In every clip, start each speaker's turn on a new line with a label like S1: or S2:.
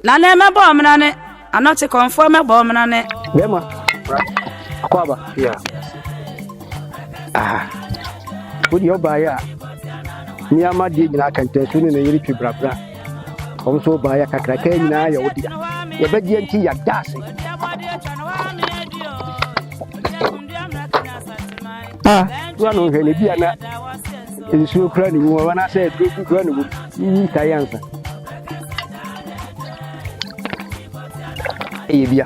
S1: na ne mɛbɔ ɔmena ne anɔte kɔnfoɔ mɛbɔ ɔmena ne. bɛrima
S2: akɔ aba ya aha wodeɛ ɔbaeɛ a ne ama deɛ nyinaa kɛntɛnso ne ne yere twe brabra ɔm so ɔbaeɛ kakraka nyinaa yɛ wo dea yɛbɛgyeɛ nti yɛda ase a to ano nhwɛ no bi a na nsuo kura ne mu anaasɛ aduro bi kura ne mu yiyi tae ansa ɛyɛ bia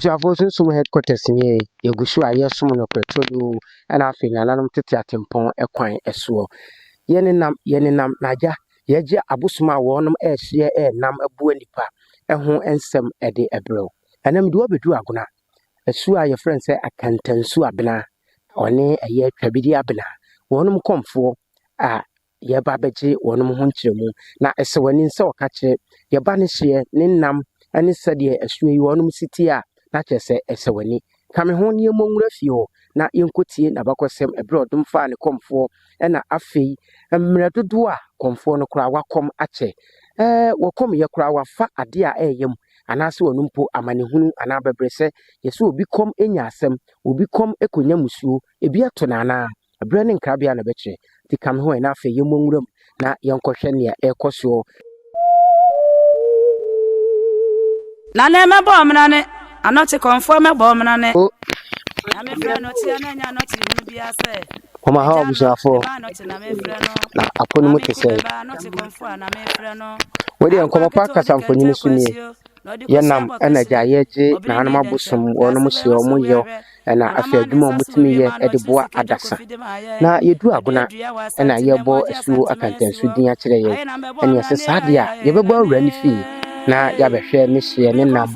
S2: Abusuafo Sunsum Headquarters nie, yɛgu so a yɛresom no prɛtodo na afei nananom tete atempɔn kwan soɔ. Yɛnenam yɛnenam na agya yɛagye abosom a wɔnom ɛrehyeɛ ɛrenam aboa nnipa ho nsɛm de brɛ wo. Ɛnnɛ mede wo abɛduru Agona, Su a wɔfrɛ no sɛ Akantansu Abena, ɔne ɛyɛ Twabiri Abena, wɔn nkɔmfoɔ a yɛreba abɛgye wɔn ho nkyerɛmu. Na ɛsɛ wɔn ani sɛ wɔka kyerɛ yɛba no hyeɛ, ne nam ne sɛdeɛ asuo yi wɔn si teɛ a, na kyerɛ sɛ ɛsɛ wɔn ani. Ka me ho na yɛmmɔ nwura fie hɔ na yɛnkɔtie n'abakɔsɛm ɛberɛ a ɔdom faa ne kɔmfoɔ na afei mmerɛ dodoɔ a kɔmfoɔ no koraa wakɔm akyɛ. Ɛɛ wɔkɔm yɛ koraa wafa adeɛ a ɛreyɛ mu anaasɛ ɔno mpo amanehunu anaa abɛbrɛsɛ. Yɛ sɛ obi kɔm anya asɛm, obi kɔm kɔnya musuo, ebi ato no anaa? Ɛberɛ ne nkrabea na ɛbɛkyerɛ. Nti ka me ho ɛ na afei yɛmmɔ nwura mu na yɛnkɔhwɛ nea ɛrekɔ soɔ.
S1: Nane mɛbɔ ɔmenane, anɔkye kɔmfoɔ mɛbɔ ɔmenane. Nyame frɛ nɔkyeɛ na ɛnyɛ anɔkyere hunu biara sɛ. Wɔn aha abusuafoɔ
S2: na apo no mu te sɛ. Wɔde nkɔmɔ pa kasa mfonyin so nie. Yɛnam ɛna gya yɛgye nanom abosom wɔn mo hyɛ wɔn yɛ ɛna afei adwuma wɔn tumi yɛ ɛde boa adasa. Na yɛdu agona ɛna yɛbɔ asuo akantansu din akyerɛ yɛn. Ɛne ɛsɛ saa deɛ a yɛbɛbɔ awura ne fie na yɛabɛhwɛ ne hyeɛ ne nam.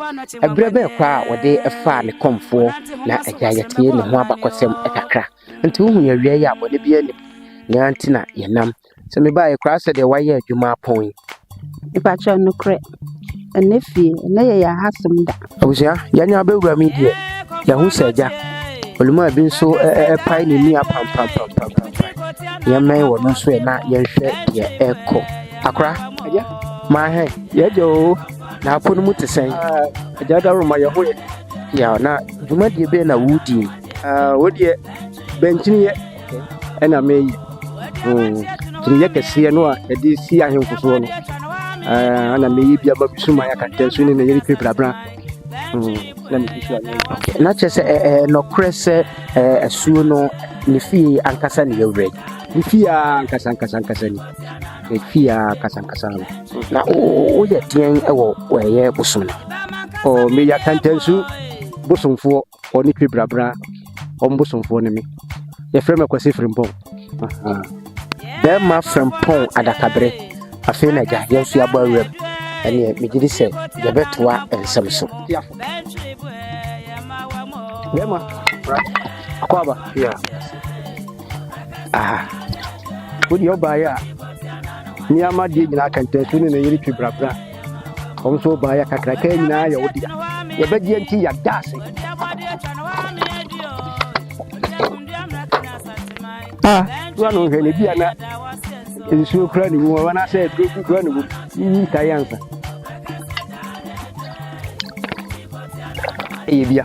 S2: Ɛberɛ bɛɛ koraa a wɔde ɛfaa ne kɔmfoɔ na agya yɛtee ne ho abakɔsɛm ɛkakra. Nti wohu yɛ wia yi a bɔne biara nni mu nea nti na yɛ nam sɛ me baa yɛ koraa sɛ deɛ wayɛ adwuma apɔn yi. Mepakyɛw
S3: nokorɛ ɛnɛ fie ɛnɛ yɛ yɛ aha som da. Abusua yɛanya
S2: bɛwura mi deɛ yɛahu sɛ agya olumaa bi nso ɛpae ne nua pampampampampampae yɛmmɛn wɔ no nso ɛ na yɛnhwɛ deɛ ɛkɔ akora agya maahɛ yɛagya o na apo no mu te sɛn agya daworo ma yɛho yɛ yɛ na dwumadie bɛɛ na wodie Ah, wo deɛ bɛnkyiniiɛ ɛna meyɛ kyiniiɛ kɛseɛ no a ɛde si ahemfo soɔ no ɛna meyɛ bi ama mesu ma yɛaka ntɛnso ne na yɛne twe brabra na mefi so ayɛ na kyerɛ sɛ nɔkorɛ sɛ asuo no ne fie ankasa ne yɛwerɛ ne fie a ankasa ankasa ankasa ni ne fie a ankasa ankasa no na woyɛ deɛn wɔ ɛyɛ bosom no meyɛ akantansu bosomfoɔ ɔne twi brabra wɔn bosomfoɔ ne me yɛfrɛ me akwasi frimpɔn bɛrima frimpɔn adakabere afei na agya yɛn nso yɛabɔ awuram ɛneɛ megye di sɛ yɛbɛtoa nsɛm so bɛrima akɔ aba aha wodeɛ ɔbaeɛ a nneɛma deɛ nyinaa kɛntɛnso ne ne yere twi brabra wɔn nso baa yɛ kakraka nyinaa yɛ wodea yɛbɛgyeɛ nti yɛda ase a wa no hwɛ ne bi ana nsuo kura ne mu anaasɛ aduro bi kura ne mu yiyi ntae ansa ɛyɛ bia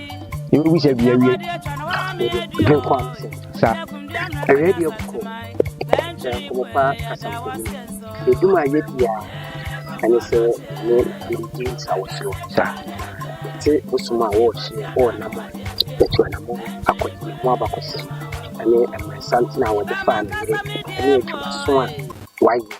S2: yɛbɛbisa bi awie yɛde kɔ ase sa ɛyɛ deɛ bɔkɔ na nkɔmmɔpa kasa mfoni ɛdum a yɛdi a ɛne sɛ ne anamdi nsa wɔ soro sa yɛte bosom a wɔɔhyeɛ wɔɔnam a yɛto anamɔ akɔ ne ho abakɔsɛm ɛne mmerɛsantena a wɔde faa ne yere ɛne adwumaso a wayɛ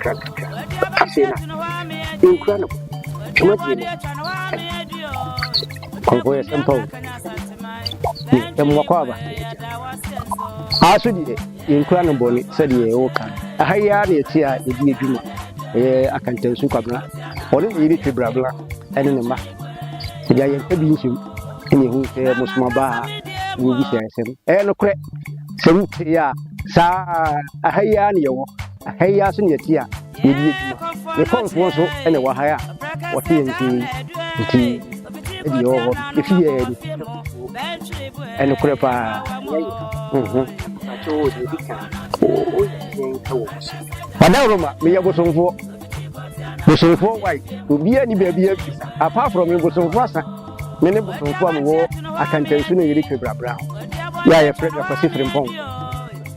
S2: krakaka sisei na nkura no tuma die no kɔnkɔ yɛ sɛmpa o ɛmmoa kɔ aba aa so deɛ yɛnkura no bɔne sɛdeɛ ɛwɔ ka no aha yi ara na ɛte a yɛdi adwuma ɛyɛ akantansu kwabena ɔne ne yere twe brabla ɛne ne mma ɛde ayɛ nka bi nhyɛm ɛne ɛhu sɛ mosoma baa wɔbisa ɛsɛm ɛyɛ nokorɛ sɛ wote a saa aha yi ara na yɛwɔ Aha yi ara so na yɛte a yɛredi adwuma. Yɛn kɔmfoɔ nso na ɛwɔ ha a wɔte yɛn nkyɛn yi. Nti, ɛde yɛwɔ hɔ no, yɛfi yɛn ani. Ɛnokorɛ paa. Adaworoma, meyɛ bosomfoɔ. Bosomfoɔ wae, obiara nni baabi a bisa. Apart from me, bosomfoɔ asa. Me ne bosomfoɔ a mewɔ Akantansu na yɛretwa brabra ho. Yɛ a yɛfrɛ me Akwasi Frimpong.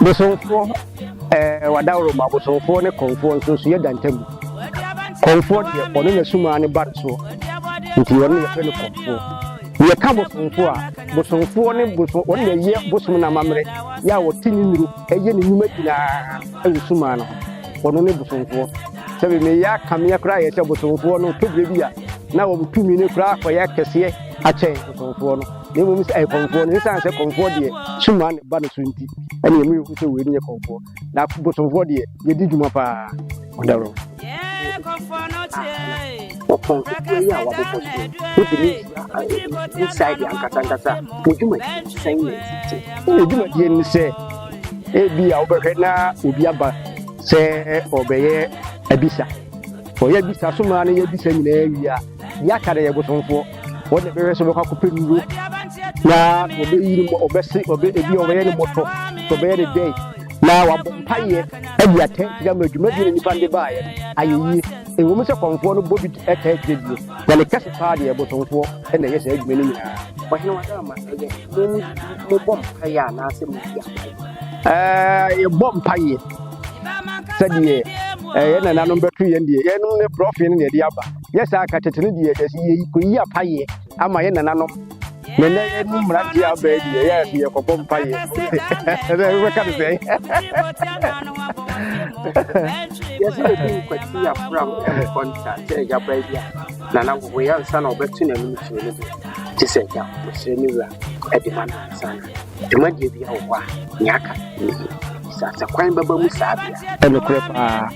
S2: Bosomfoɔ, ɛɛ Wadawuroma abosomfoɔ ne Kɔmfoɔ nsonsoeɛ da ntam. Kɔmfoɔ deɛ, ɔno na sum ara ne ba ne soɔ, nti ɔno na yɛfrɛ no Kɔmfoɔ. Yɛka Bosomfoɔ a, Bosomfoɔ ne bosom, ɔno na ɛyɛ bosom no amammerɛ, yɛ a ɔte ne nnuro, ɛyɛ ne nnwuma nyinaa wɔ sum ara no ho. Ɔno ne Bosomfoɔ. Sɛbe meyɛ akameɛ koraa yɛ sɛ Bosomfoɔ no, tɔ berɛ bi a, na wɔn tumi no koraa kɔyɛ kɛseɛ akyɛn Bosomfoɔ no. na mmom sɛ ɛyɛ kɔmfoɔ no ɛsiane sɛ kɔmfoɔ deɛ suma ne ba no so nti ɛne ɛmu yɛhu sɛ wei no yɛ kɔmfoɔ na bosomfoɔ deɛ yɛdi dwuma paa ɔdawrɔ ɔpɔnkɔfoɔ yi a wabobɔ so wode ne inside ankasankasa mo dwumadi sɛn na ɛsite ne dwumadie ne sɛ ebi a wobɛhwɛ na obi aba sɛ ɔbɛyɛ abisa ɔyɛ abisa so maa no yɛ abisa nyinaa wie a Deɛ aka no yɛ bosomfoɔ. Wɔn na bɛhwɛ sɛ wɔbɛkɔ akɔpɛ nnuro na wɔbɛyi no, wɔbɛse, wɔbɛ ebi wɔbɛyɛ no mmɔtɔ, wɔbɛyɛ no dɛn na wɔabɔ mpaeɛ adi atɛntene ama dwumadie na nnipa no de baeɛ no ayɛ yie. Ɛwom sɛ kɔmfoɔ no bɔ bi taa kyerɛ die, na ne kɛse paa deɛ bosomfoɔ na ɛyɛ saa adwuma no nyinaa. Ɔhene Wadarma, ɛyɛ mo mu bi mobɔ mpaeɛ anaasɛ modi apaeɛ? Ɛɛ, yɛbɔ mpaeɛ. Sɛdeɛ yɛn nananom bɛto yɛn deɛ, yɛnom ne borɔfee no na yɛde aba. yɛ saa ka tete no deɛ dɛsi yɛ kɔyi apayeɛ ama yɛ nananom na ɛnɛ yɛ no mmeranteɛ abɛɛ deɛ yɛ ɛso yɛ kɔbɔ mpayeɛ ɛnɛ ɛbɛka no sɛe yɛsɛ yɛde nkwati afram nkɔnta sɛ agya baa bi a nana wɔ yɛ ansa na ɔbɛto n'anim kyerɛ no bi te sɛ agya ɔsrɛ ne wura ɛde ma no ansa na dwumadie bi a wɔ hɔ a nea aka ne sɛ asakwan bɛba mu saa bia ɛnokorɛ paa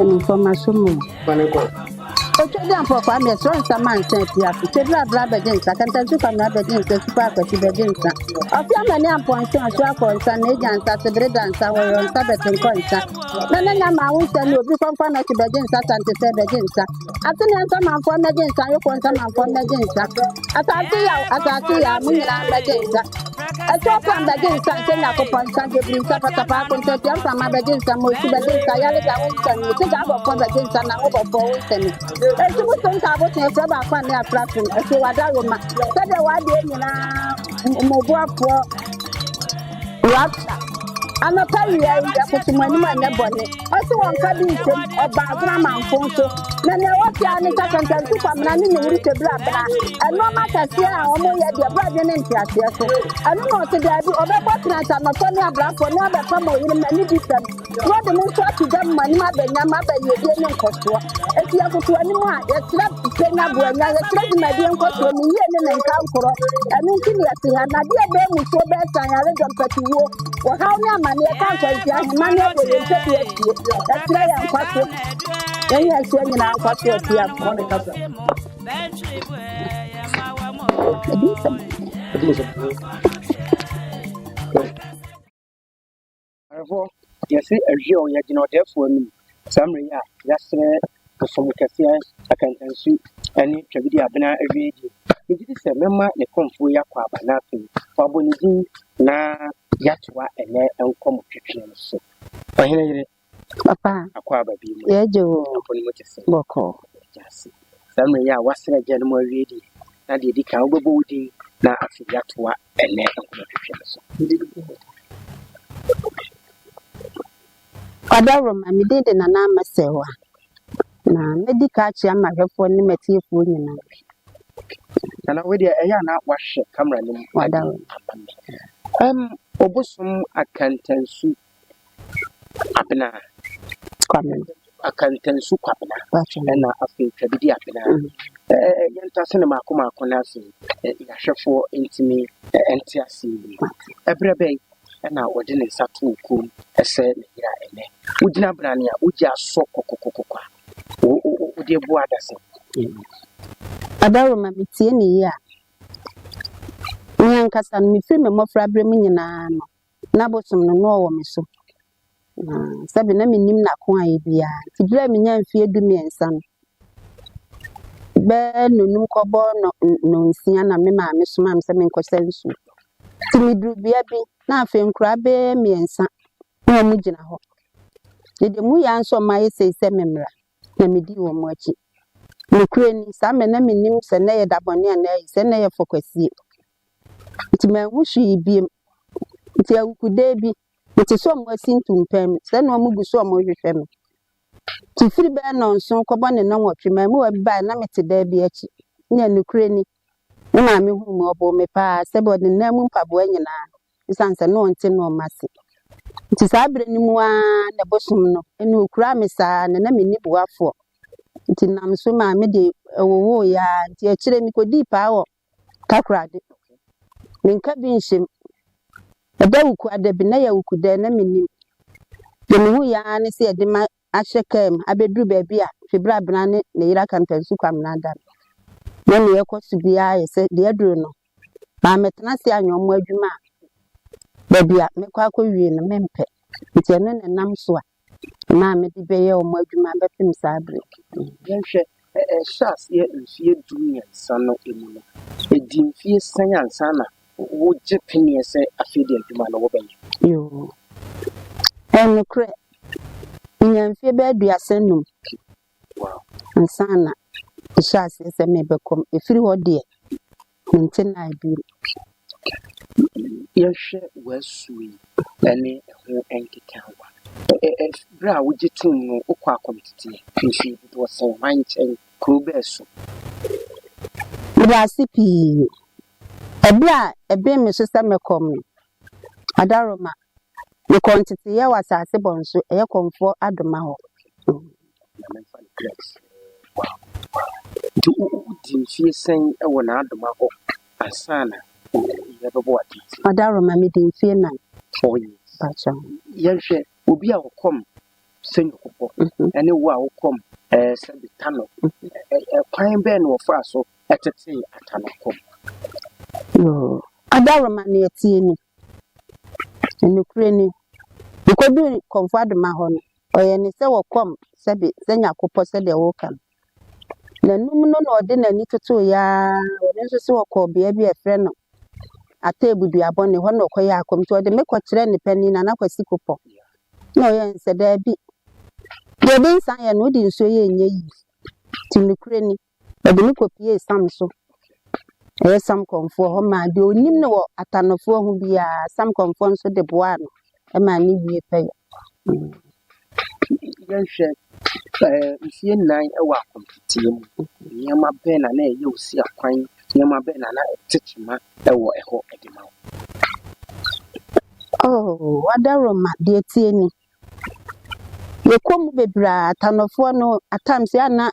S1: Ɛne mfɔmaso mu.
S2: Otwa di
S3: ampɔfo ame ɛsrɛ nsa ma nsa afi ase. Kyedra abla abɛgye nsa. Kantansu kwame abɛgye nsa. Supa akwasi bɛgye nsa. Ɔfi amani ampɔnso nso akɔ nsa. Meja nsa sebere da nsa. Wɔyɔ nsa bɛtenkɔ nsa. na na nya maa wo nsa ni obi kɔnkɔn na ɔte bɛgye nsa sante sɛ bɛgye nsa ateneɛ nsamanfoɔ mmɛgye nsa yokoɔ nsamanfoɔ mmɛgye nsa asase yaw asase yaw mo nyinaa mmɛgye nsa ɛtoɔ pam bɛgye nsa nhyɛ nyakopɔn nsa dwebiri nsa patapaako nsa tia mframa bɛgye nsa mosu bɛgye nsa yaleda wo nsa ni sika abɔfoɔ bɛgye nsa na wo bɔfoɔ wo nsa ni ɛsu bo so nka abosen ɛfrɛ baako a ne afra som ɛfiri wada roma sɛdeɛ wadeɛ nyinaa mmoboafoɔ Rapture. Anɔpa wia yi, yɛkoto mo anim anyɛ bɔne. Ɔse wɔnka bi nsem ɔba agoramanfo nso. Na nea ɛwɔ fie ara ne sɛ kantansi kwamena ne ne wurike birabira. Ɛnoɔma kɛseɛ a wɔn yɛ deɛ ɛbɔ adwene ne nteaseɛ so. Ɛno na ɔse daabi, ɔbɛkɔ tena asanɔfɔ ne abrafoɔ ne abɛpam ɔyeremm ne difɛm. Na wɔde me nso ato dam ma anim abɛnya ma abɛyiedie ne nkɔsoɔ. Enti yɛkoto anim a, yɛkyerɛ pɛnya boanya, yɛkyerɛ dwumadie nkɔsoɔ, ne yie ne ne nkankorɔ. Ɛno nti na yɛte ha. Na deɛ ɛbɛn mmusuo bɛn san, yaredɔm, mpatuwuo, ɔhaw ne amaneɛ, ɛka nkwanhyia, ahemanne abɔ yɛn tadua asie. Yɛkyerɛ yɛn nkwaso, yɛn yɛn soɔ nyinaa nkwaso atiafoɔ.
S2: Awerɛhɔ, Yɛse awiei o, yɛgyina ɔdɛɛfoɔ anim saa mmerɛ yi a yɛasrɛ bosom kɛseɛ akantansu ne twabidie abena awiei deɛ, megye di sɛ mɛma ne kɔmfoɔ yi akɔ aba na afei wabɔ ne din na yɛatoa ɛnɛ nkɔmɔtwetweɛ no so. Ɔhene yere, Papa, akɔ
S3: aba bi mu,
S2: yɛgye wo, apɔ ne mu te
S3: sɛ,
S2: bɔkɔɔ. Yɛda ase. Saa mmerɛ yi a woasra agya no mu awie deɛ, na deɛ ɛdi kan wobɛbɔ wo din na afei yɛatoa ɛnnɛ nkɔmmɔtwetwe no so.
S3: Kwabena Roma, Me din de Nana Ama Serwa, na mɛdi ka akyerɛ m'ahwɛfoɔ ne m'atiefoɔ nyinaa.
S2: Nana, wei deɛ ɛyɛ a na woahwɛ camera no mu. Kwabena Roma, Amen.
S3: Ɛm,
S2: Obosom Akantansu Abena.
S3: Kwabena. Akantansu
S2: Kwabena. Ɛna afei
S3: Twabidi
S2: Abena. Yɛnto ase no mako mako no ase. Yɛahwɛfoɔ ntumi nte ase yi. Ɛberɛ bɛn ɛna wɔde ne nsa too kuo mu ɛsɛ ne yera ɛnɛ. Wogyina brane a wogye asɔ kɔkɔkɔkɔkɔ a wode bu adasa.
S3: Adaroma metie ne yie a. Me ankasa no mefiri me mmɔfra berɛ mu nyinaa no. Ná abosom no na ɔwɔ me so, na sɛbe na minnim n'ako a ayɛ biara. Nti bere a minyaa mfeɛ dumiɛnsa no, bɛyɛ nnɔnum kɔbɔ nnɔnsia na me maame somaa me sɛ menkɔsa nsuo. Nti meduru bea bi na afei nkoraa bɛyɛ mmiɛnsa na wɔgyina hɔ. Mede mu yɛ nso wɔn ayɛ sei sɛ memmra, na medii wɔn akyi. Nokorɛ ni, saa mmerɛ na mennim sɛ na ɛyɛ dabɔne anaa ayi, sɛ na ɛyɛ fɔkwasie. Nti manhu hwee biom. Nti awukuda bi, mete sɛ ɔmo asi ntumpa mu, sɛ na ɔmo gu so ɔmo rehwehwɛ me. Nti firi bɛyɛ nnɔnson kɔbɔ ne nnɔnwɔtwe, mmaamua bi bae na mete dan bi akyi. Nea nokorɛ ni, me maame huu me, ɔboo me paa, sɛbe ɔde ne nan mu mpaboa nyinaa, esiane sɛ na ɔnte ne ɔma ase. Nti saa bere no mu ara na ɛbosom no, ɛna okuraa me saa, na na menni boafoɔ. Nti nam so maa mede ɛwowooe ara, nti akyire yi mekodii paa wɔ Takoradi Poku, Menka bi nhyem, ɛda wuku a dabi na yɛ wuku dɛn na mennim. Deɛ mehu yɛ ara ne sɛ yɛde me ahyɛ kaa mu abɛduru baabi a Fibrabena ne ne yere aka ntansu Kwamena da no. Na nea ɛkɔ so biara yɛ sɛ deɛ aduru no, mammɛtena ase anyɛ wɔn adwuma a baabi a mɛkɔ akɔwie no mempɛ. Nti ɛno na ɛnam so a Nna a mede bɛyɛ wɔn adwuma bɛpem saa bere no. Yɛnhwɛ,
S2: Ɛhyɛɛ aseɛ mfeɛ du mmiɛnsa no mu no, ɛdii mfeɛ sɛn ansa na wogye peneɛ sɛ afei deɛ adwuma no wobɛyɛ? Yoo.
S3: Ɛyɛ nokorɛ. Menyaa mfeɛ bɛyɛ aduasa nnum ansa
S2: na
S3: ɛhyɛɛ aseɛ sɛ merebɛkɔ mu. Ɛfiri hɔ deɛ, Mente no ase bio.
S2: Yɛhwɛ w'asu yi ne ɛho nkekaawa. Bere a wogye toom no, wokɔ akomteteɛ mfeɛ dodoɔ sɛn? Hwan nkyɛn? Kuro bɛn so? Meda
S3: ase pii. Ɛberɛ a ɛbem me so sɛ mɛkɔ me Adaroma Mekɔɔ nteteeɛ wɔ asase bɔnso, ɛyɛ kɔmfoɔ adoma hɔ. Na
S2: memfa no Grex wɔ akono hɔ a. Nti wodii mfeɛ sɛn wɔ n'adoma hɔ ansa na ɔwuiɛ bɛbɔ wo ateeteeɛ? Ɔdaroma, medii mfeɛ
S3: nan. Four years.
S2: Mpakyɛw. Yɛnhwɛ obi a ɔkɔm sɛ nyɔkopɔ ne wo a wokɔm sɛ betano. Kwan bɛn na wɔfaa so tetee atanokɔm?
S3: Ɔdaroma, Nea ɛteɛ ni, Nokorɛ ni, wokɔduu Kɔmfoadoma hɔ no, ɔyɛɛ no sɛ ɔkɔm sɛbe sɛ Nyakopɔ sɛdeɛ woka no. Nanum no na ɔde n'ani totooeɛ ara, ɔno nso sɛ ɔkɔɔ bea bi a yɛfrɛ no Atebu Duabɔne, hɔ na ɔkɔyɛɛ akɔm. Nti ɔde me kɔkyerɛɛ ne panin, Nana Kwasi Kopɔ, na ɔyɛɛ no sɛ, Daabi, deɛ ɛde nsa yɛ no, wode nsuo yɛ ɛnyɛ yie. Nti nokorɛ ni, Wɔde no kɔpuee Sam so, ɛyɛ Sam kɔmfoɔ hɔ maa deɛ ɔnim no wɔ Atanofoɔ ho biara, Sam kɔmfoɔ nso de boaa no maa ne wie pɛyɛ.
S2: Yɛnhwɛ eh, mfeɛ nnan wɔ akontateɛ mu, nneɛma bɛn na na ɛyɛ wo si akwan, nneɛma bɛn na na ɛte kyema wɔ ɛhɔ de ma wo?
S3: Oh, Wadaroma, deɛ ɛteɛ ni, Yɛkɔ mu bebree a, Tanɔfoɔ no at times yɛ a na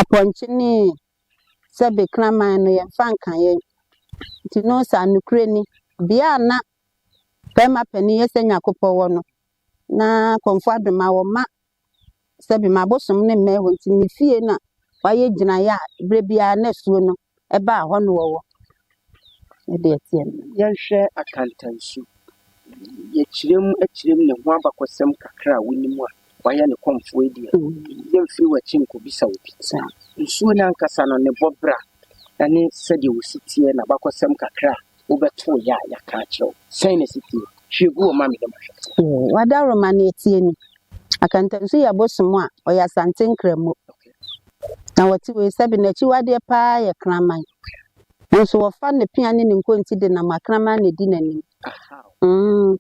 S3: Apɔnkye ne Sɛbe Kraman no yɛmfa nka yɛn. Nti no saa nokorɛ ni, bea a na Bɛɛma Panin Yɛsɛ Nyakopɔ wɔ no, na Kɔmfoɔ Ado ma wɔma Sɛbe ma abosom no mmɛn hɔ nti ne fie na wayɛ gyinaeɛ a berɛ biara na asuo no Ɛbaa hɔ no wɔwɔ ɛde ɛteɛ no. Yɛnhwɛ akantansu.
S2: Yɛkyerɛ mu kyerɛ mu ne ho abakɔsɛm kakra a wonim a wayɛ no kɔmfoɔ yi deɛ, yɛmfiri w'akyi nkɔbisa obi. Nsuo no ankasa no, ne bɔbra ne sɛdeɛ ɔsi teɛ, n'abakɔsɛm kakra a Wobɛtoo yɛ a yɛaka akyerɛ wo. Sɛn na ɛsi teɛ? Hwie gu hɔ ma me na mahwɛ. Yee, w'adaworoma
S3: no atie ni. Akantansu yɛ bosom a ɔyɛ Asante Nkramo, na wɔte wei sɛbe. N'akyiwadeɛ pa ara yɛ kraman, nanso wɔfa ne pea ne ne nkonti denam akraman na ɛdi n'anim. Ahaw.
S2: Mm.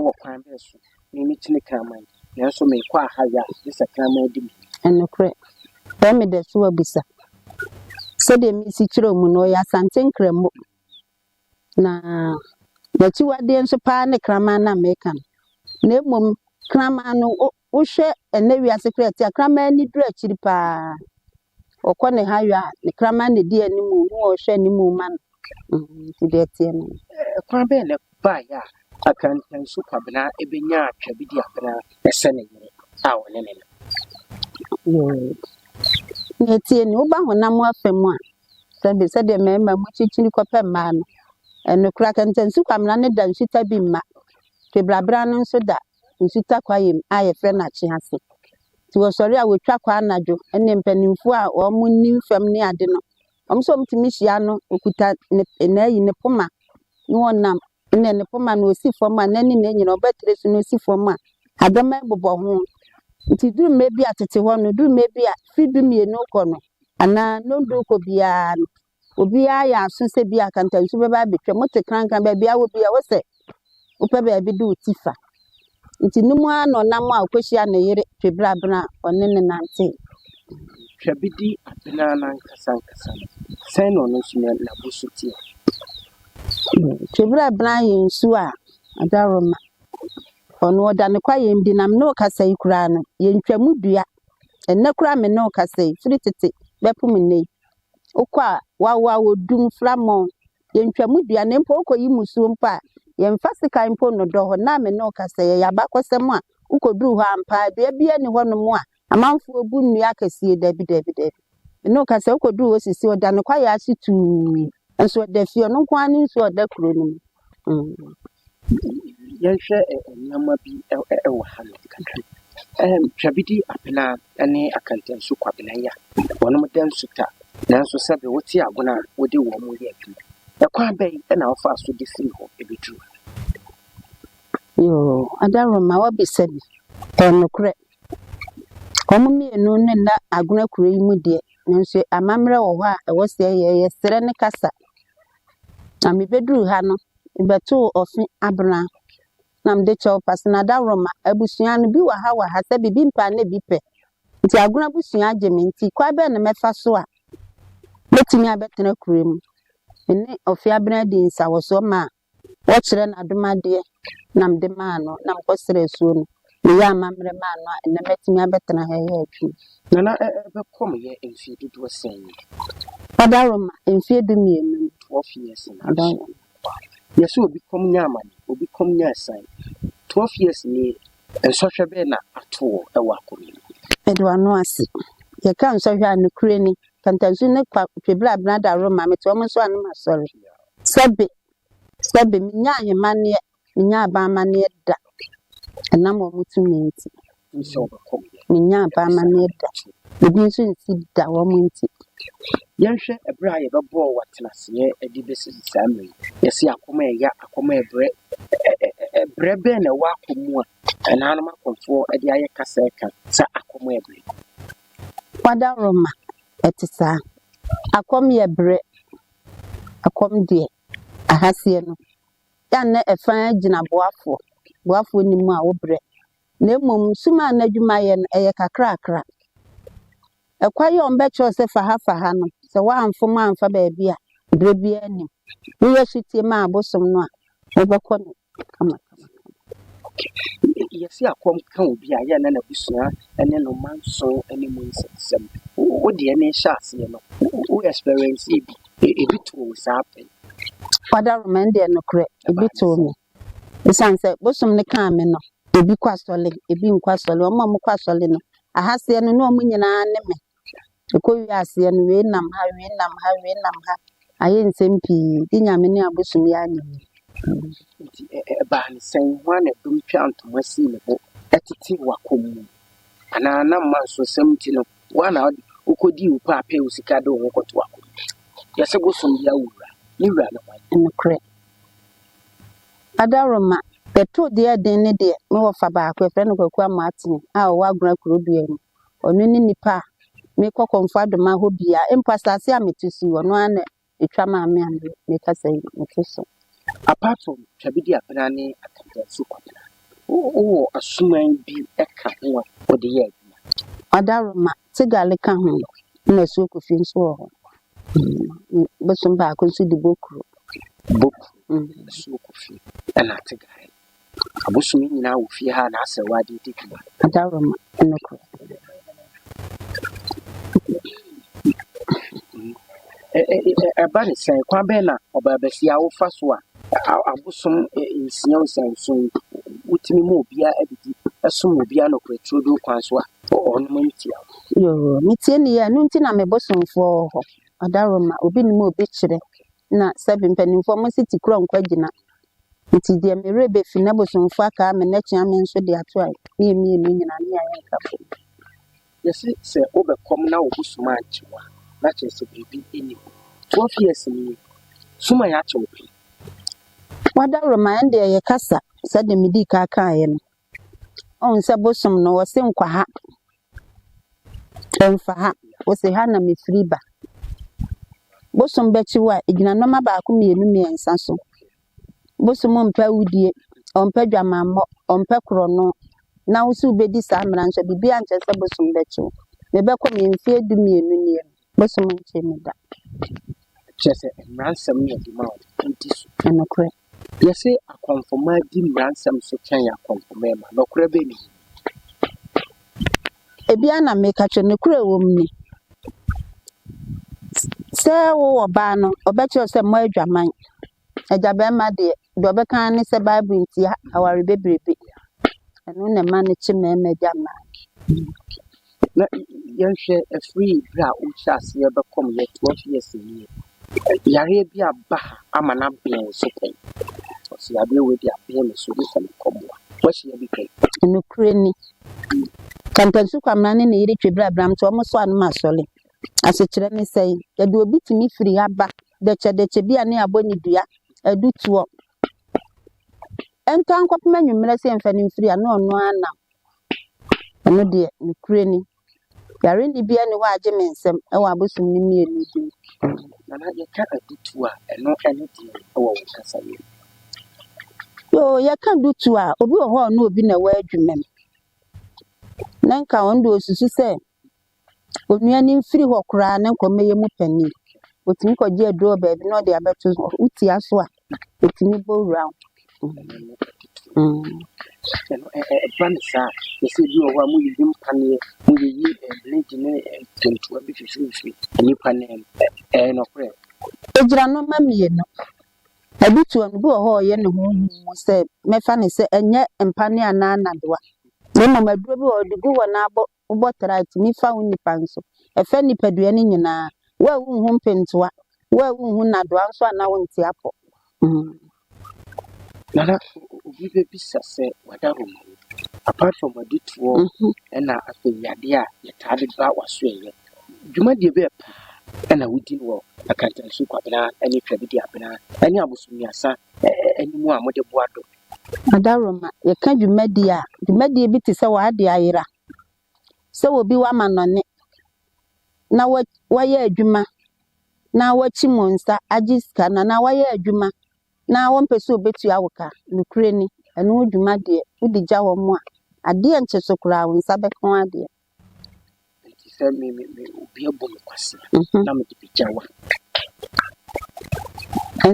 S2: Wɔ kwan bɛn so? Me me kyene kraman, nanso me kɔ aha yɛ a, gye sɛ kraman di me. Nokorɛ.
S3: Sɛ me da su abisa. Sɛdeɛ me si kyerɛ wɔn no, ɔyɛ Asante Nkramo, na n'akyiwadeɛ nso paa ne kraman no a me reka no. Na mmom, kraman no, Wohwɛ ɛnnɛ wiase koraa a, tiakraman ani duru akyiri paa. Ɔkɔ ne ha yɔ a, ne kraman na ɛdi anim o, hu a ɔhwɛ anim ma no. Mm, Nti deɛ ɛteɛ no no. Ɛkwan bɛn na
S2: ɛbaeɛ a akantansu Kwabena bɛnyaa Twabidi Abena sɛ ne yere a ɔne no
S3: no? Yoo. Nea ɛteɛ ni, woba honam afa mu a, sɛbe sɛdeɛ mmarima mu kyikyiri kɔpɛ mmaa no, ɛno koraa akantansu Kwabena no da nsuta bi mma. Twabiri Abena no nso da nsu takwayɛ mu a yɛfrɛ no akye ase. Nti wɔsɔre a wɔtwa kɔ anadwo ne mpanimfoɔ a wɔnim fam ne ade no, wɔn nso wɔtumi hyia no, ɔkuta ne na ayi ne poma na wɔnam. Ɛnna ne poma no ɔsi fam a n'ani na ɛnyina, ɔbɛtere so na ɔsi fam a adɛma bobɔ ho. Nti duru mmerɛ bi a tete hɔ no, duru mmerɛ bi a firi dumienu rekɔ no anaa nnɔndu rekɔ biara no, Obiara yɛ aso sɛ bi a akantansu bɛba abɛtwam. Wote krankran, baabi a wɔ bi a, wo sɛ wopɛ baabi de wo ti fa. Nti no mu ara na ɔnam a ɔkɔhyia ne yere Twebrabena a ɔne no nantee. Hwɛ
S2: Bedi Abena no ankasa ankasa no, sɛn na ɔno nso n'abu so teɛ?
S3: Twebrabena yɛ nsuo a adaworo ma. Ɔno ɔda ne kwayɛm di na me ne wo kasa yi koraa no, yɛntwa mu dua. Ɛnnɛ koraa me ne wo kasa yi, firi tete bɛpem nnɛ yi, Wokɔ a, wawo a wɔdu mframɔ. Yɛntwa mu dua na mpo wokɔyi mmusuo mpo a, yɛmfa sekan mpo nnodɔ hɔ. Ná me ne wo kasa, yɛyɛ abakɔsɛm a wokɔduru hɔ ampa a, dua biara nni hɔnom a amanfoɔ bu nnua akɛseɛ. Dabi, dabi, dabi. Me ne wo kasa, wokɔduru hɔ sisi, ɔda ne kwaeɛ ase tuu. Nanso ɔda fie, ɔno nko ara ne nsuo a ɔda kuro no mu.
S2: Yɛnhwɛ nneɛma bi wɔ ha no kakra. Twabidi Abena ne Akantansu Kwabena yi a wɔda Nsuta nanso sɛbe wote Agona a wode wɔn yɛ adwuma. Ɛkwan bɛn na wɔfaa so de firi hɔ bɛduruu ha? Yoo,
S3: Adaroma woabisa bi. Ɛyɛ nokorɛ. Wɔn mmienu no nna Agona kuro yi mu deɛ nanso amammerɛ wɔ hɔ a ɛwɔ sɛ yɛyɛ. Yɛsrɛ ne kasa Na mebɛduruu ha no, mebɛtoo ɔfe abena na mede kyɛw pase na dawuroma abusua no bi wɔ ha wɔ ha sɛ bibi mpaa na bi pɛ. Nti Agona abusua agye me nti kwan bɛn na mɛfa so a mɛtumi abɛtena kuro mu? Me ne ɔfe abena dii nsawɔsoɔ maa wɔkyerɛ no adomadeɛ. na mede maa no, na mekɔsrɛɛ asuo no, meyɛɛ amammerɛ maa no a, ɛnnɛ matumi abɛtena ha reyɛ adwuma. Na na ɛbɛkɔ
S2: me yɛ mfeɛ dodoɔ sɛn? Ɔda Roma
S3: mfeɛ dumienu. Twelve years na
S2: Ɔda aso. Roma.
S3: Yɛse
S2: obi kɔm nya amane, obi kɔm nya asiane. Twelve years nie, nsɔhwɛ bɛn na ato wo wɔ akoma mu? Mede w'ano ase.
S3: Yɛka nsɔhwɛ a, nokorɛ ni. Pantansu ne Kwa Twebere Abena da Roma, mete wɔn nso a na masɔre. Sɛbe, Sɛbe menyaa ahemanneɛ, menyaa aban amanneɛ da, ɛnam wɔn tumi nti.
S2: Menyaa aban amanneɛ
S3: da, ebi nso nsi da wɔn nti. Yɛnhwɛ
S2: ɛberɛ a yɛbɛbɔɔ wo atenaseɛ de bɛsi saa mmerɛ yi. Yɛse akɔm a ɛya, akɔm a ɛbrɛ. Ɛberɛ bɛn na ɛwɔ akɔm mu a ɛnanom akɔmfoɔ de ayɛ kasa ɛka sɛ akɔm a ɛbrɛ?
S3: Wadaworoma, ɛte saa. Akɔm yɛ berɛ. Ɛkɔm deɛ ahaseɛ no, yɛ a na ɛfa ara gyina boafoɔ, boafoɔ nni mu a wobrɛ. Na mmom sum a na adwumayɛ no, ɛyɛ kakrakra. Ɛkwan yi a wɔbɛkyerɛw sɛ fa ha fa ha no, sɛ woamfom amfa baabi a, berɛ biara nim. Woyɛ sotie ma abosom no a, wobɛkɔ ne Kama kama kama.
S2: Yɛse akɔm ka obi a yɛ na n'abusua ne no ma nso ne mu nsɛm. Wo deɛ ne hyɛ aseɛ no wo experience ebi ebi too wo saa pɛn. Father Roma
S3: ɛnde nokorɛ ebi too me ɛsiane sɛ bosom no kaa me no ebi kɔ asɔle ebi nkɔ asɔle wɔn a wɔkɔ asɔle no ahaseɛ no ne wɔn nyinaa ne me Ɛkɔwie aseɛ no, wei nam ha, wei nam ha, wei nam ha. Ayɛ nsɛm pii, gye Nyame ne abosom yi ara nnim. Nti
S2: ɛbaa no sɛn? Hwan na dɔm twaa ntoma sii ne bo tete w'akɔm mu? Anaa na mmansosɛm nti no, wo ara na wokɔdii wo pɛ a pɛɛ wo sika de wo ho kɔto w'akɔm mu? Yɛse bosom yi ara wo wura, ne wura ne hwan? Nokorɛ.
S3: Adaroma, yɛto deɛ ɛden ne deɛ, me wɔfa baako, yɛfrɛ no Kwaku Amoatene a ɔwɔ Agona Kuroduaa mu. Ɔno ne nipa a mekɔ Komfo-Adoma hɔ biara. Mpo asase a mete so yi, ɔno ara na ɛtwa maa me a meka sɛ mete so. Apart from
S2: Twabediapena ne Akantansi Kwabena, wowɔ asuman bi ka ho a wode yɛ adwuma? Adaroma,
S3: Tsegali ka ho, ɛna Asuo Kofi nso wɔ hɔ. Bosom baako nso di Bokuro. Bokuro,
S2: Asuo Kofi, ɛna Tsegali. Abosome nyinaa wɔ fie ha a n'asɛwaa de di dwuma. Adaworoma,
S3: Nokorɛ.
S2: Ɛba no sɛn? Kwan bɛn na ɔbaabasia wofa so a abosom nsia osian nson yi wotumi ma obiara adidi som obiara nokorɛ turodoo kwan so a ɔnom ntia wo? Yoo, metie
S3: no yie, ɛno nti na me bosomfoɔ wɔ hɔ. Adaworoma, Obi nim a obi kyerɛ, na sɛbe mpanimfoɔ mo se ti korɔ nkɔ agyina, Ntsi deɛ merebefi n'abosomfo akaa me n'atua me nso de ato a, ne yɛn mmienu nyinaa, ne yɛn ayɛ nka fam. Yɛse
S2: sɛ wobɛkɔm na wo bosom ankye wo a, na kyerɛ sɛ biribi nni hɔ. Twelve years nie, sum ayɛ akyɛ wo pɛn.
S3: Wadaworo ma ɛndeɛ yɛkasa sɛdeɛ medii kan kaeɛ no. Ɔhu sɛ bosom no, ɔse nkwaha. Ɛmfa ha. Ose, ha na mefiri ba. Bosom bɛkye wo a, ɛgyina nɔma baako mmienu mmiɛnsa so. Bosom mpɛ awudie, ɔmpɛ dwamammɔ, ɔmpɛ korɔno. Na wo se wobɛdi saa mmara nso a, biribiara nkyerɛ sɛ bosom bɛkye wo. Mebɛkɔ me mfeɛ du mmienu nie no, Mɛsom nkyɛ mu da. Kyerɛ
S2: sɛ, mmara nsɛm no yɛ de ma wɔn a wodi so. Nokorɛ.
S3: Yɛse
S2: akɔnfomaa di mmara nsɛm so kyɛn akɔnfomaa ma nɔkorɛ bɛ ne mu.
S3: Ebi ara na meka kyerɛ. Nokorɛ a ɛwɔ mu ni sɛ, wo ɔbaa no, ɔbɛkyerɛ wo sɛ, Moadwaman. Agya barima deɛ, deɛ ɔbɛka ara ne sɛ Bible ntia aware bebrebe. Ɛno na ɛma no kye mmarima agya mmaa.
S2: Na yɛnhwɛ ɛfiri berɛ a wohyɛ aseɛ bɛkɔ mu yɛ twelve years nie, yareɛ bi aba ha ama no abene wo so pɛn. Ɔsɛ yareɛ wei de abene me so de sɛ mekɔboa. Woahyia bi pɛn? Nokorɛ ni.
S3: Kantansu Kwamena ne ne yere Twebere Abram nti wɔn so ano ma asɔre. Asekyerɛ ne sɛn? Yɛde obi tumi firi ha ba dɛkyɛdɛkyɛ bi a ne abɔ ne dua, ɛdu toɔ. Ɛntaa nkɔpem anwummerɛ sɛ yɛmfa no mfiri a, na ɔno ara nam. Ɛno deɛ, nokorɛ ni. Yare nne biara nni hɔ a agye me nsam wɔ abosom no mmienu yi mu. Nana,
S2: yɛka adutoɔ a, ɛno ne deɛn wɔ wo kasayɛ mu? Yoo,
S3: yɛka adutoɔ a, obi wɔ hɔ a ɔne obi na ɛwɔ adwuma mu. Na nka ɔno deɛ ɔsusu sɛ Onua no mfiri hɔ koraa ne nkɔmmɔyɛ mu panin. Ɔtumi kɔgye aduro wɔ baabi na ɔde abɛto so. Wotia so a, ɔtumi bɔ wura wo. Mm. ɛno ɛ-
S2: ɛ- ɛba no saa na sɛ ebi wɔ hɔ a moyiyi mpaneɛ moyiyi eh, blade ne eh, ntoa bi fifirifiri nnipa no mu Ɛ- ɛyɛ nɔkorɛ Egyina no ma
S3: mmienu. Ɛbi toa no bi wɔ hɔ a ɔyɛ ne ho hu mu sɛ mɛfa ne sɛ ɛnyɛ mpaneɛ anaa nnadewa. Na mmom aduro bi wɔ hɔ ɔde gu hɔ na abɔ Wobɔ tra a, tumi fa wo nnipa nso. Ɛfa nnipadua no nyinaa. Wo a wonhu mpentoa, wo a wonhu nnadoa nso a na wonte apɔ.
S2: Nana, obi bɛbisa sɛ wada hɔ ma wo. Apart from ɔde toɔ ɛna afei adeɛ a yɛtaa de ba w'asoɛeɛ, dwumadie bɛɛ paa ɛna wodi no wɔ Akantansu Kwabena ne Twabidi Abena ne Abosommiasa anim a mode boa dɔ Adaworoma,
S3: yɛka dwumadie a, dwumadie bi te sɛ w'ade ayera, sɛ obi w'amanɔne na wa wayɛ adwuma na wakyim wo nsa agye sika no anaa wayɛ adwuma na ɔmpɛ sɛ ɔbɛtua wo ka. Nokorɛ ni, ɛno ho dwuma deɛ, wode gya wɔn a, adeɛ nnkye so koraa, wo nsa bɛka wo adeɛ. Enti
S2: sɛ me me me obi abɔ me kwasea Mhm. na mede bɛgya wa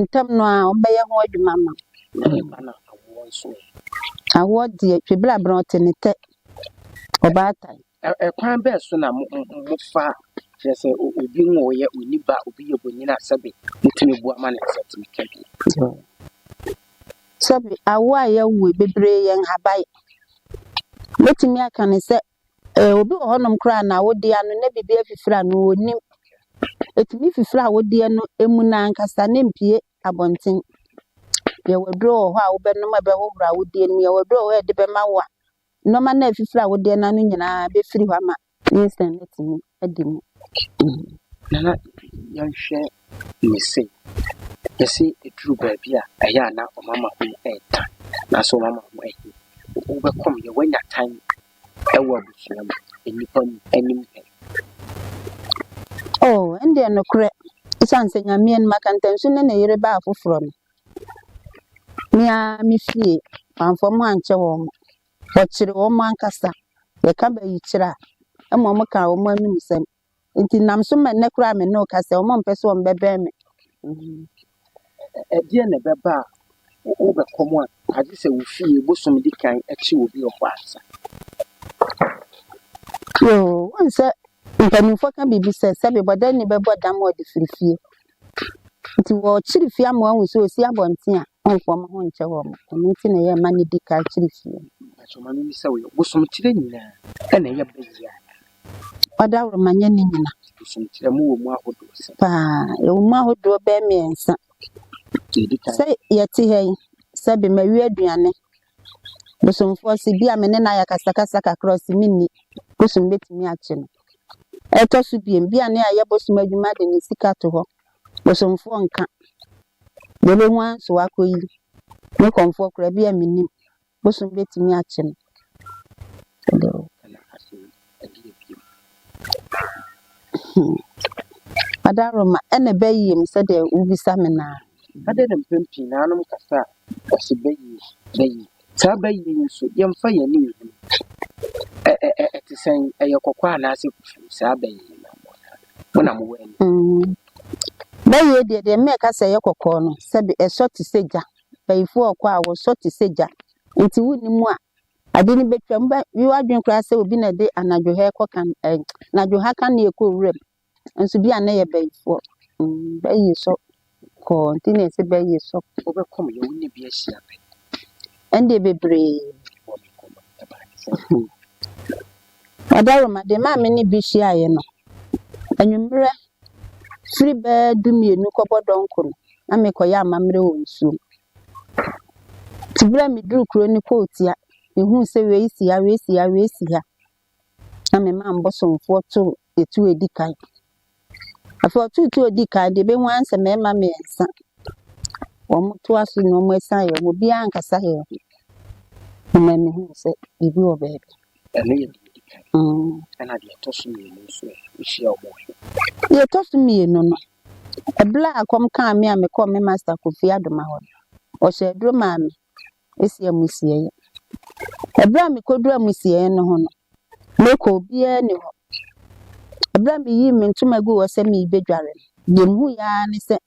S3: Ntɛm no ara, wɔbɛyɛ ho adwuma ama wo. na ɛba na awoɔ nso ɛ. Awoɔ deɛ, twebere abena ɔte ne tɛ. Ɔbaatan. Ɛ- Ɛkwan bɛɛ so
S2: na mo mo- mo- mofa kyerɛ sɛ o- obi nwoeɛ, ɔnni ba, obi yɛ bonyin a sɛbe motumi boa ma ne nsa tumi ka bi.
S3: Sɛbe awo a yɛawo yi bebree yɛ nhabae. Mɛtumi aka no sɛ obi wɔ hɔnom koraa na awodeɛ ano na biribi afifiri a no ɔnnim. Ɛtumi fifiri awodeɛ no ɛmu no ankasa na ɛmpue abɔnten. Yɛwɔ aduro wɔ hɔ a wobɛnom a ɛbɛhohoro awodeɛ no mu. Yɛwɔ aduro wɔ hɔ a yɛde bɛma wo a nnoɔma no a ɛfifiri awodeɛ no ano nyinaa bɛfiri hɔ ama wo. Ɛyɛ sɛ mɛtumi adi mu.
S2: Nana yɛnhwɛ ne se. Yɛse ɛduru baabi a ɛyɛ a na wɔn ama ho ɛɛta nanso wɔn ama ho ɛhe. Wobɛkɔm yɛ wanya tan ɛwɔ abusua mu, nnipa mu anim pɛ.
S3: Oh ɛndeɛ nokorɛ ɛsiane sɛ Nyame anim aka ntam so ne ne yere baa foforɔ no. Me ara me fie, wamfa wɔn ankyɛ wɔn. Wɔkyere wɔn ankasa. Yɛka bayikyerɛ a, mmom wɔka wɔn anumsɛm. Nti nam so ma nnɛ koraa a me ne wo kasa yi, wɔmpɛ sɛ wɔbɛbɛn me.
S2: Ɛdeɛn na ɛbɛba a wobɛkɔ mu a agye sɛ wo fie bosom di kan kye obi wɔ hɔ ansa?
S3: Yoo, woahu sɛ mpanimfoɔ ka biribi sɛ, sɛbe bɔdɛnni bɛbɔ dam a ɔde firi fie. Nti wɔkyere fie ama wɔahu sɛ ɔsi abɔnten a, ɔmfa wɔn ho nkyɛ wɔn. Ɛno nti na ɛyɛ mma no di kan kyere fie. Nanso ma no ni sɛ
S2: woyɛ bosomkyerɛ nyinaa ɛna ɛyɛ ba yie a.
S3: Ɔdaworo ma nyɛ ne nyina. Bosomkyerɛ mu
S2: wɔ mu ahodoɔ sɛ. Paa,
S3: ɛwɔ mu ahodoɔ bɛɛ mmiɛnsa. Sɛ yɛte ha yi, sɛ bɛma wi aduane. Bosomfoɔ se bi a me ne no ayɛ akasakasa kakra ɔse me nni bosom mɛtumi akye no. Ɛtɔ so biom bi a ne ayɛ bosom adwuma de ne sika to hɔ bosomfoɔ nka deɛ ɔbɛhu ara nso wakɔ yi ne kɔmfoɔ koraa bi a me nnim bosom bɛtumi akye no. Ɛdeɛ bio? Hmm. Adaroma, ɛna bɛyiem sɛdeɛ wobisa me no a. Adɛn na mpɛn
S2: pii no anom kasa a wɔse bɛyie, bɛyie. Saa bɛyie yi nso, yɛmfa yɛn ani nhunu. Ɛ ɛ ɛ ɛte sɛn? Ɛyɛ kɔkɔɔ anaasɛ fufuo? Saa bɛyie yi na mo na mo na mowɔ ani. Mm.
S3: Bɛyie deɛ deɛ mmɛka sɛ ɛyɛ kɔkɔɔ no, sɛbe ɛsɔ te sɛ gya. Bayifoɔ ɔkɔ a wɔsɔ te sɛ gya. Nti wonni mu a, Ade no betwam. Wobɛyɛ w'adwene koraa sɛ obi na ɛde anadwo ha kɔ kan ɛ anadwo ha kanea kɔ wuram. Nso bi a na yɛ bɛyifoɔ. Bɛyi sɔ kɔɔ nti na ɛsɛ bɛyi sɔ. Wobɛkɔ me yɛ wo ne
S2: bi ahyia pɛ. Ɛnde
S3: bebree. Wɔ me nkɔmmɔ no ɛbaa ne sɛ. Ɔdawuruma de maa me ne bi hyiaeɛ no, anwummerɛ firi bɛɛ du mmienu kɔbɔ dɔnko no, na mekɔyɛ amammerɛ wɔ nsuom. Ntsi ber a meduu kurow no pɔwtsia, mehun sɛ wei si ha, wei si ha, wei si ha, na memaa mo bosomfoɔ too etuo a edi kan. Afei ɔtoo tuo a odi kan deɛ, ebehu ara ne sɛ mmarima mmiɛnsa. Wɔtoa so na wɔsan yɛ, obiara ankasa yɛɛ ho, na mehuu sɛ biribi wɔ baabi.
S2: Ɛno yɛ deɛ ɛdi kan. Ɛnna deɛ ɛtɔ so mmienu nso ɛ? Wohyia wɔn ɛ? Deɛ ɛtɔ so mmienu
S3: no, ɛberɛ a kɔm kaa me a mekɔɔ me masta Kofi Adoma hɔ no, ɔhyɛɛ aduro maa me ɛsi amusieeɛ. Ɛberɛ a mekɔduru amusieeɛ no ho no, mekɔ obiara nni hɔ. Ɛberɛ a meyii me ntoma guu hɔ sɛ merebɛdware no, deɛ mehuiɛ ara ne sɛ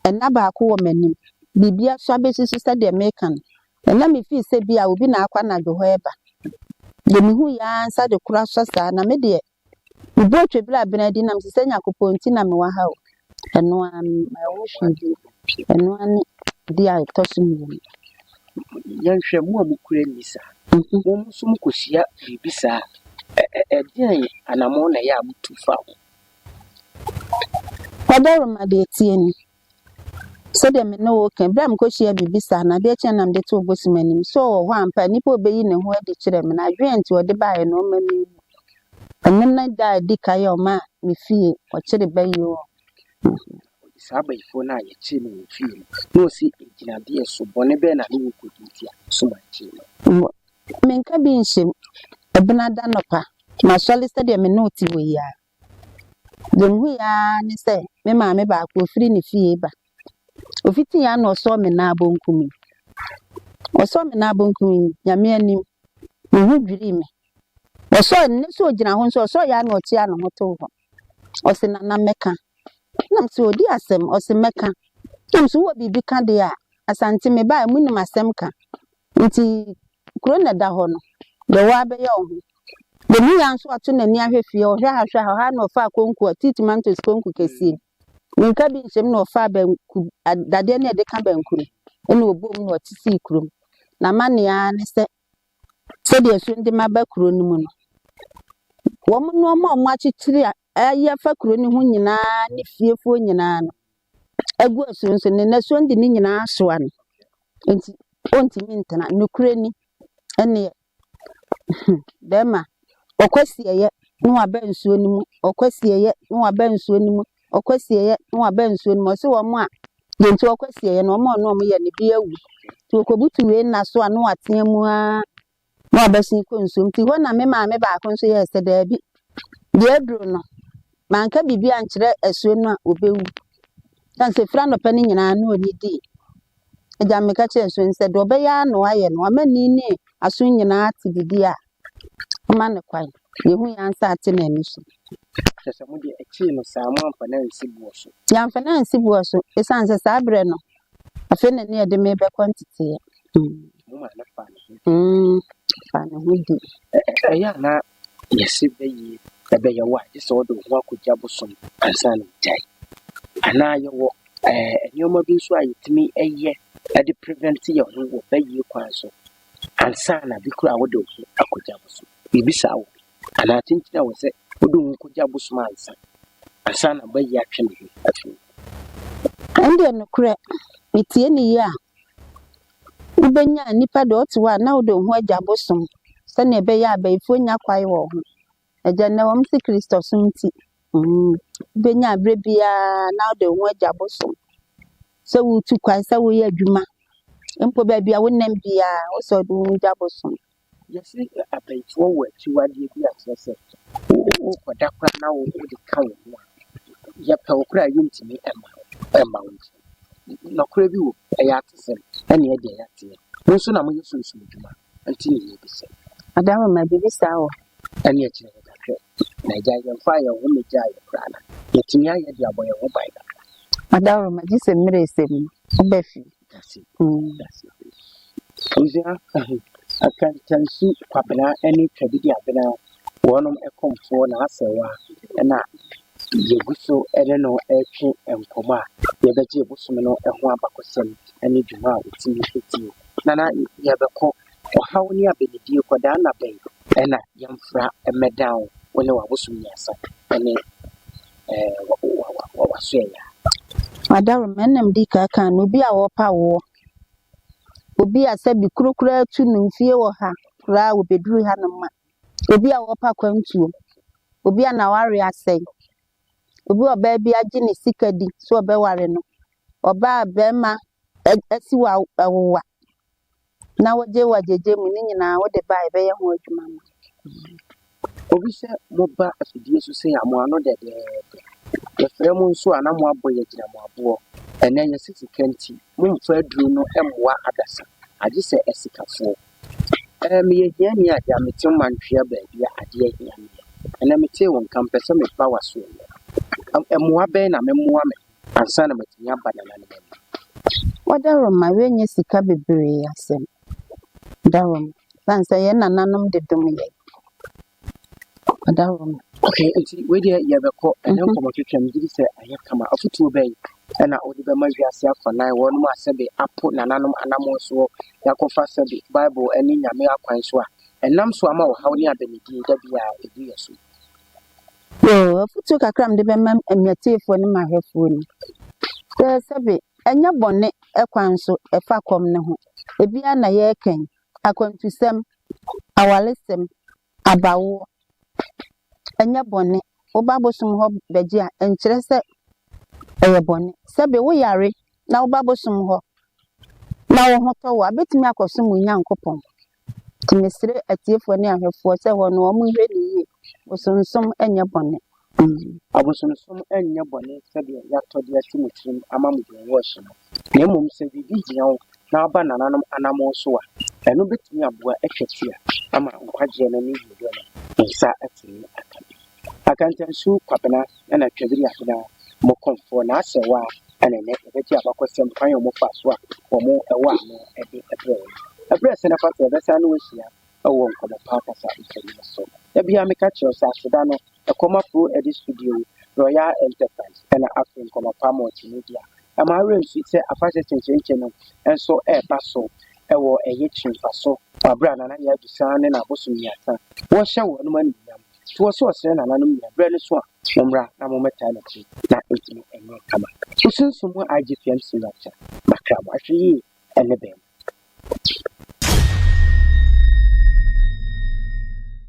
S3: ɛnna baako wɔ m'anim. Biribiara so abɛsusu sɛdeɛ meka no, Nna mefii sɛ bi a obi na akɔ anadwo hɔ reba. Deɛ mehui aa nsa de koro asɔ saa, na me deɛ, me bo atwa bere a bena adi na mese sɛ Nyakopɔn nti na mewɔ ha o. Ɛno aa me maa ɛho hwii bio. Ɛno aa ne ade a ɛtɔ so mmienu.
S2: Yɛnhwɛ mo a mo kura nni saa. Mo nso mo kɔ hyia biribi saa a, ɛdeɛn anamɔn na ɛyɛ a mo tu fa ho?
S3: Ɔbarima deɛ tie ni. Sɛdeɛ me ne wo reka yi, berɛ a mekɔhyiaa biribi saa no, adeɛ kyeeɛ na mede too Bosom anim. So ɔwɔ hɔ ampa? Nipa a ɔbɛyi ne ho adi kyerɛ me no, adwene a nti ɔde baeɛ no, ɔma me hu. Ɛno ne da a ɛdi kan a ɔmaa me fie, ɔkyere ba yi o. Ɔde
S2: saa bayifoɔ no a yɛkyere no wɔ fie no, na ɔsi agyinadeɛ so, bɔne bɛn na ne wɔ kɔdi nti a Bosom ankyere no? Wɔ, menka bi
S3: nhyɛ mu, Ɛbenada anɔpa, masɔre sɛdeɛ me ne wo te hɔ yi ara, Deɛ mehui ara ne sɛ me maame baako ɔfiri ne fie reba. Ɔfitii ara na ɔsɔɔ me nan bonkum yi. Ɔsɔɔ me nan bonkum yi, Nyame anim, me ho dwirii me. Ɔsɔɔ, mennim sɛ ɔgyina hɔ nso, ɔsɔeɛ ara na ɔkyeaa ne ho too hɔ. Ɔse, Nana mɛka. Na mese, ɔdi asɛm? Ɔse, mɛka. Na mese, wowɔ biribi ka deɛ a, Asante mebaeɛ, monim asɛm ka. Enti kuro no na ɛda hɔ no, deɛ ɔwɔ ara bɛyɛ wɔ ho. Deɛ ɛmu yɛ ara nso ato n'ani ahwɛ fie, ɔhwɛ ha, ɔhwɛ ha, ɔha na ɔfaa konku a, tea tomatoes konku kɛseɛ bi. Mmirika bi nhyɛm na ɔfaa banku, dadeɛ no a yɛde ka banku no, ɛna ɔbɔɔ mu na ɔte sii kurom. N'amanneɛ ara ne sɛ, sɛdeɛ asuo no de ma ba kuro no mu no, wɔn nneɛma a wɔakyekyere a ayɛ afa kuro no ho nyinaa ne fiefoɔ nyinaa no, agu asu no so, ne nnasoɔ de ne nyinaa soa no, nti ɔntumi ntena. Nokorɛ ni, ɛnneɛ, hmm, bɛrima, ɔkwasieeɛ na waba nsuo no mu, ɔkwasieeɛ na waba nsuo no mu, ɔkwasieeɛ na waba nsuo no mu. Ɔse wɔn a, deɛ nti ɔkwasieeɛ no, wɔn a ɔne wɔn yɛ no, bi awu. Nti ɔkɔbutu wei nnasoɔ ano atea mu ara. na ɔbɛsen kɔ nsuom. Nti hɔ na me maame baako nso yɛɛ sɛ, Daabi, deɛ aduro no, manka biribi ankyerɛ asuo no a, ɔbɛwu. Ɛsiane sɛ firi anɔpa no nyinaa na ɔnnidii. Agya no meka kyerɛɛ asuo no sɛ, deɛ ɔbɛyɛ ara na wayɛ no, wama ni ne aso nyinaa ate biribi a, mma no kwan. Deɛ ɛhu yɛn nsa ate na ani so. Kyerɛ sɛ mo deɛ
S2: ɛkyee no saa, moamfa no ansi boɔ so? Yɛamfa no ansi boɔ
S3: so, ɛsiane sɛ saa berɛ no, Afei na ne yɛde me bɛkɔ nteteɛ. Mo ma
S2: no fa ne ho. Mm, fa
S3: ne ho di. Ɛyɛ a na
S2: yɛse bɛyie ɛbɛyɛ wo a, gye sɛ wode wo ho akɔgya bosom ansa na wagyae. Anaa yɛwɔ ɛɛ nneɛma bi nso a yɛtumi yɛ de prevent yɛn ho wɔ bɛyie kwan so ansa na bi koraa wode wo ho akɔgya bosom. Yɛbisa wo bi. Anaa adze ntsi na ɔwɔ dɛ ɔdɔ wu kogya bosoom ansa, ansa na bɛyi atwe no ho afi ho.
S3: Ɛndeɛ nokorɛ metie no yie a, wobenyaa nipa deɛ ɔte hɔ a na ɔdɔ wu agya bosoom, sɛdeɛ ɛbɛyɛ a abayifoɔ nnya kwae wɔ ho. Agya nnɛ ɛwɔ mu sɛ Kristosom nti, wobenyaa berɛ biara na ɔdɔ wu agya bosoom, sɛ woretu kwan, sɛ woreyɛ adwuma, mpo baabi a wonam biara, wosɛ ɔdɔ wu gya bosoom. Yɛse yɛ
S2: abɛntoɔ wɔ akyiwadeɛ bi a kyerɛ sɛ wo kɔda koraa na wo de ka wo ho a yɛpɛ wo koraa yɛntumi ɛma wo ɛma wo nti nɔkorɛ bi wɔ mu ɛyɛ atesɛm ɛne ɛdeɛ yɛateɛ wo nso na moyɛ sunsum adwuma nti ne yɛ bi sɛ Ada wo ma biribi
S3: saa wɔ hɔ. Ɛne ɛkyerɛ yɛ
S2: ka hwɛ na agya yɛmfaa yɛn ho mɛgyaa yɛ koraa na yɛtumi ayɛ de abɔ yɛn ho ban kakra. Ada wo ma
S3: gyesɛ mmerɛ sɛm no wo bɛ fie. Dase oo
S2: dase oo. Abusua ahem Akantansu Kwabena ne Twabidi Abena wɔnom ɛkɔmfoɔ na asɛ wa na yɛguso ɛne no ɛretwe nkɔmɔ a yɛbɛgye bosome no ɛho abakɔsɛm ɛne dwuma a ɔtumi ɛdie. Nana yɛbɛkɔ Ɔhaw ne abɛnidie kɔdaa nna bɛn? Ɛna yɛmfra mmɛdan wo, wo ne w'abosom mmiɛnsa ne w'asoɛyaa. Adarom,
S3: ɛna medi ka kaa no, obi a ɔrepa woɔ, obi a sɛbi kuro koraa tu no mfie wɔ ha koraa ɔbɛduru hanom ma, obi a ɔrepa kwantuo, obi a n'awareɛ asɛe, obi a ɔbaa bi agye ne sika di sɛ ɔbɛware no, ɔbaa a barima asi wo awowa na wogye wo agyegye mu ne nyinaa wode ba a ɛbɛyɛ ho adwuma ma.
S2: Obi sɛ moba afidie
S3: so
S2: sei a mo ano dɛdɛɛdɛ. Yɛfrɛ mo nso a na moabɔ yɛn agyina mo aboɔ. Ɛnnɛ yɛse sika nti mommfa aduro no mmoa adasa agye sɛ asikafoɔ. Ɛɛ meyɛ hiani a deɛ mete wo mantwea baabi a adeɛ hia meɛ. Ɛnnɛ metee wo nka mpɛ sɛ meba w'asoɛeɛ. Mmoa bɛn na memmoa me ho? Ansa na matumi aba Nana no bɛba. Wɔ Daroma
S3: yɛnyɛ sika bebree asɛm Daroma ɛsiane sɛ yɛn nananom de dom yɛn wɔ Daroma. Okay, nti wei
S2: deɛ yɛbɛkɔ ɛnɛ mhm. nkɔmmɔtwetwam gye di sɛ ayɛ kama afotuo bɛn ɛna wode bɛma wiase afanan wɔnom a sɛbe apo nananom anammɔn soɔ na akɔfa sɛbe bible ne nyame akwan so a ɛnam so ama ɔhaw ne adanidie da bi a ɛdu yɛ so So
S3: afotuo kakra a mede bɛma m'atiefoɔ ne m'ahwɛfoɔ ni, sɛ sɛbe ɛnyɛ bɔne kwan so ɛfa kɔm no ho, ebi ara na yɛrekɛn, akwantusɛm, awaresɛm, abawoɔ, ɛnyɛ bɔne. Woba abosom hɔ bɛgye a, ɛnkyerɛ sɛ ɛyɛ bɔne. Sɛbe woyare na woba abosom hɔ na wo ho tɔ wo a, wobɛtumi akɔsom wo Nyankopɔn. Nti mesrɛ atiefoɔ ne ahwɛfoɔ sɛ wɔn no wɔnhwɛ no yie, bosonsom nyɛ bɔne. Ii, Abosonsom
S2: nyɛ bɔne sɛdeɛ yɛatɔ de asi mo tirim ama mo deɛ ɛwɔ akyi no, na mmom sɛ biribi hia wo na woaba nananom anammɔn so a, ɛno bɛtumi aboa atwa ti a ama nkwagyeɛ no ne wieɛ no nsa atumi aka bi. Akantansu Kwabena na Twabiri Afena mo kɔmfoɔ na asɛ wo a ɛna ɛnɛ yɛbɛgye abakɔsɛm kwan a wɔn faa so a wɔn wɔ ano de brɛɛ yɛn. Ɛberɛ sɛn afa sɛ yɛbɛsan ne wo ahyia wɔ nkɔmmɔ pa kasa nsɛm yi so. Da biara meka kyerɛ wo sɛ aseda no ɛkɔ ma Flo Eddy Studio, Royal Enterprise ɛna afei Nkɔmmɔ Pa Multimedia. Ɛma awerɛ nfi sɛ afahyɛ kyenkyenkyen no nso reba so wɔ ɛyɛ Kyiri mfa so wɔ aberɛ a Nana Yaa Dusaa ne n'abosom mmiɛnsa wɔrehyɛ wɔnom animuonyam. Toa so srɛ nananom nyinaa berɛ no so a mommra na mommɛtaa n'akyi na ɛtumi nyɛ kama. Wo sunsum mu IGPM Senior Chair, Makra mo ahwɛ yie ɛne bɛn mu.